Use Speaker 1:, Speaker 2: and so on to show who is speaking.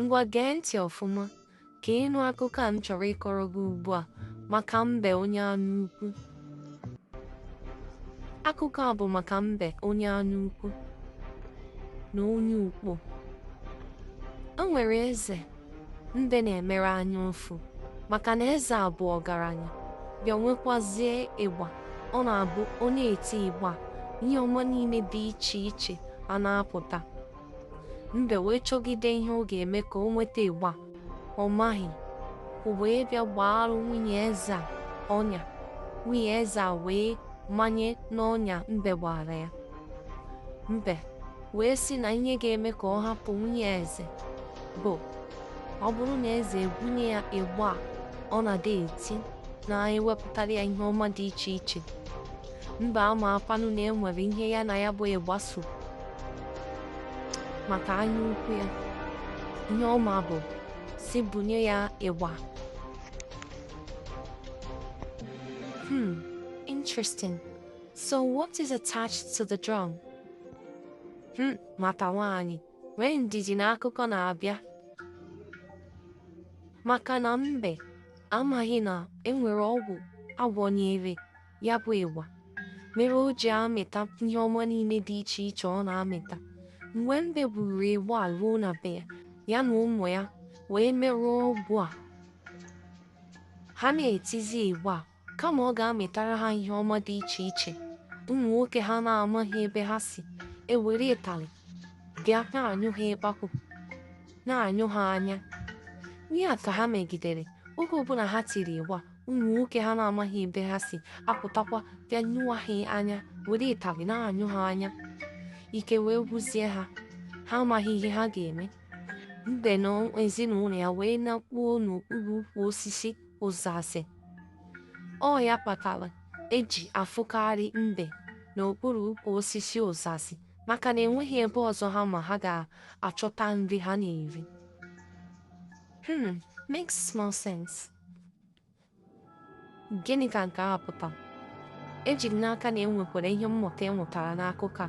Speaker 1: Ngwa gee ntị ọfụma ka ịnụ akụkọ a m chọrọ ịkọrọ gị ugbu a maka mbe onye anya ukwu. Akụkọ a bụ maka mbe onye anya ukwu na onye ukpo. O nwere eze mbe na-emere anya ụfụ, maka na eze a bụ ọgaranya, bịa nwekwazie ịgba. Ọ na-abụ ọ na-eti ịgba a, ihe ọma niile dị iche iche a na-apụta. Mbe wee chọgide ihe ọ ga-eme ka o nweta ịgba a, ọ maghị. O wee bịa gbaarụ nwunye eze a ọnya. Nwunye eze a wee manye n'ọnya mbe gbaara ya. Mbe wee sị na ihe ga-eme ka ọ hapụ nwunye eze bụ ọ bụrụ na eze ebunye ya ịgba a ọ na-adị eti na-adị ewepụtara ya ihe ọma dị iche iche mbe amaakwanụ na enwere ihe ya na ya bụ ịgba so maka anya ukwu ya ihe ọ ma bụ sị bunye ya ịgba hmm interesting So what is attached to the drum? Hmm, nwata nwaanyị, nwee ndidi na akụkọ na-abịa. Maka na mbe amaghị na enwere ọgwụ agwọnyere ya bụ ịgba mere o ji amịta ihe ọma niile dị iche iche ọ na-amịta. Mgbe mbe buru ịgba a ruo na be ya, ya na ụmụ ya wee merụọ ọgwụ a. Ha na-etizi ịgba a Kama ọ ga-amịtara ha ihe ọma dị iche iche, ụmụ nwoke ha na-amaghị ebe ha si ewere ịtarị bịa na-anyụ ha ịkpakụ, na-anyụ ha anya. Ihe a ka ha megidere oge ọbụla ha tiri ịgba, ụmụ nwoke ha na-amaghị ebe ha si apụtakwa bịa nyụwa ha anya, were ịtarị na-anyụ ha anya. Ike wee gwụzie ha, ha amaghị ihe ha ga-eme. Mbe na ezinụlọ ya wee nakpuo n'okpuru ukwu osisi ụzazị. Ọ ya kpatara e ji afụkarị mbe n'okpuru ukwu osisi ụzazị maka na enweghị ebe ọzọ ha ma ha ga-achọta nri ha na-eri. Hmm, makes small sense. Gịnị ka nke a pụtara? Eji m n'aka na e nwekwara ihe mmụta e nwetara n'akụkọ a.